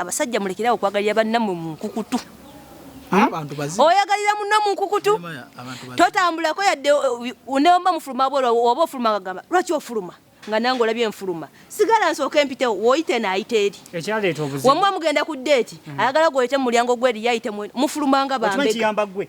Abasajja mulekere awo okwagalira bannammwe mu nkukutu. Hmm? Oyagalira munno mu nkukutu, totambulako yadde neomba mufuluma bwolwa oba ofuluma agamba lwaki ofuluma nga nange olabye nfuluma sigala nsooka empitewo woyite naayita eri wamuba mugenda ku deeti hmm. ayagala gwoyite mu mulyango gweri yayite mufulumanga bambega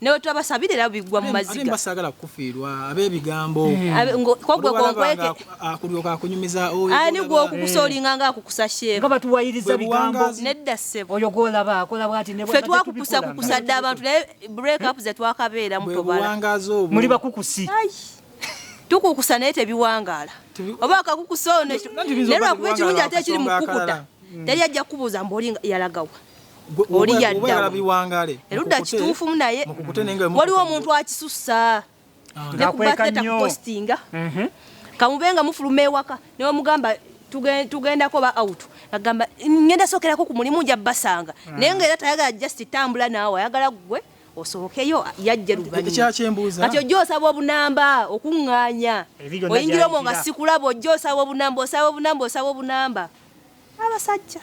newetwabasabira era bigwa mu maziga sagala kufiirwa abebigambo eh. kwogwe konkweke akulyoka ah, akunyumiza ani ah, gwokukusolinga eh. nga akukusa sheeba batuwayiriza bigambo nedda ssebo oyo gwolaba akola bwati fe twakukusa kukusa dda abantu naye break up zetwakabeera mutobala muli bakukusi tukukusa naye tebiwangaala oba akakukusa ono naye lwakuba ekirungi ate ekiri mukukuta hmm. teri ajja kukubuuza mbu oli yalagawa oli yaddaerudda kituufumu naye waliwo omuntu akisussa ah. nekubateta kupostinga mhm. kamube nga mufuluma ewaka newamugamba tugendako ba out agamba ngenda sokerako ku mulimu nja basanga ah. naye nga era tayagala just tambula naawe ayagala gwe osobokeyo yajja luvannyumakati ojja osaba obunamba okuŋŋaanya oyingira omwo nga sikulaba ojja osaba obunamba osaba obunamba osaba obunamba abasajja